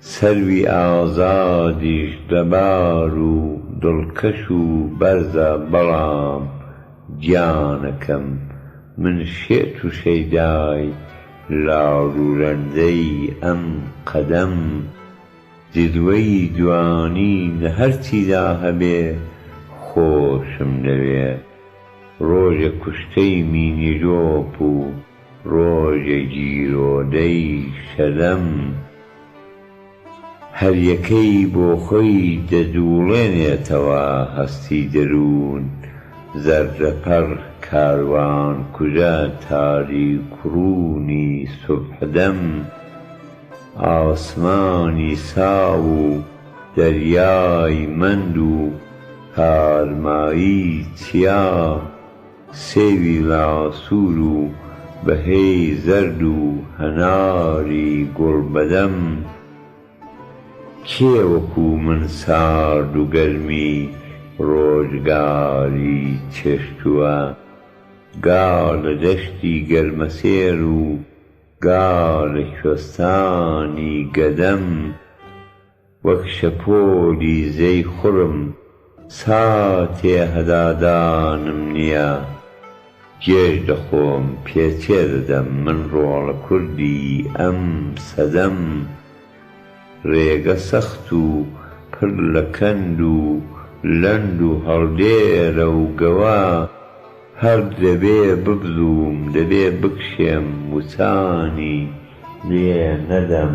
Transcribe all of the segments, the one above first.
سروی ئازادیش لەبار و دڵکەش و بەرزە بەڵام گیانەکەم من شێت و شەیدای لاڵ و رەندەی ئەم قەدەم جلوەی جوانی لە هەرچیدا هەبێ خۆشم دەوێ رۆژێ کوشتەی مینیرۆپ و ڕۆژێ گیرۆدەی کەلەم هەریەکەی بۆ خۆی دەجووڵێنێتەوە هەستی دەروون زەردەپەڕ کاروان کوژە تاریکوڕوونی سوبحدەم ئاسمانی ساو و دەریای مەند و تارمایی چیا سێوی باسوور و بەهێی زەرد و هەناری گوڵ بەدەم کێ وەکو من سارد و گەرمی ڕۆژگاری چێشتووە گا لە دەشتی گەرمەسێر و گا لە کوێستانی گەدەم. وەک شەپۆلی زێی خڕم ساتێ هەدادانم نیە گێژ دەخۆم پێ تێدەدەم من ڕۆڵە کوردی ئەم سەدەم ڕێگە سەخت و پڕ لە کەند و لەند و هەڵدێرە و گەوە هەر دەبێ ببزووم دەبێ بکشێم وچانی لێ نەدەم.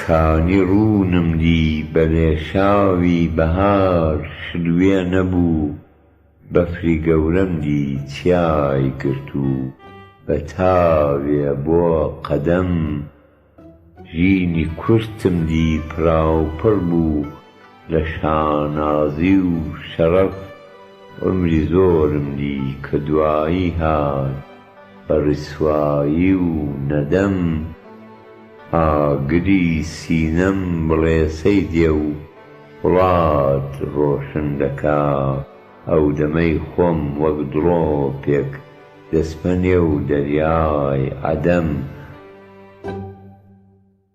کانی ڕوونم دی بە لێشاوی بەهار شلوێ نەبوو بەفری گەورەم دی تیای گرت و بە تاوێ بۆ قەدەم ژینی کورتم دی پڕاوپڕ بوو لە شانازی و شەرەف عومری زۆرم دی کە دوایی هات بە ڕیسوایی و نەدەم ئاگری سینەم بڵێسەی دێ و وڵات ڕۆشن دەکا ئەو دەمەی خۆم وەک دڵۆپێک دەسپە نێو دەریای عەدەم.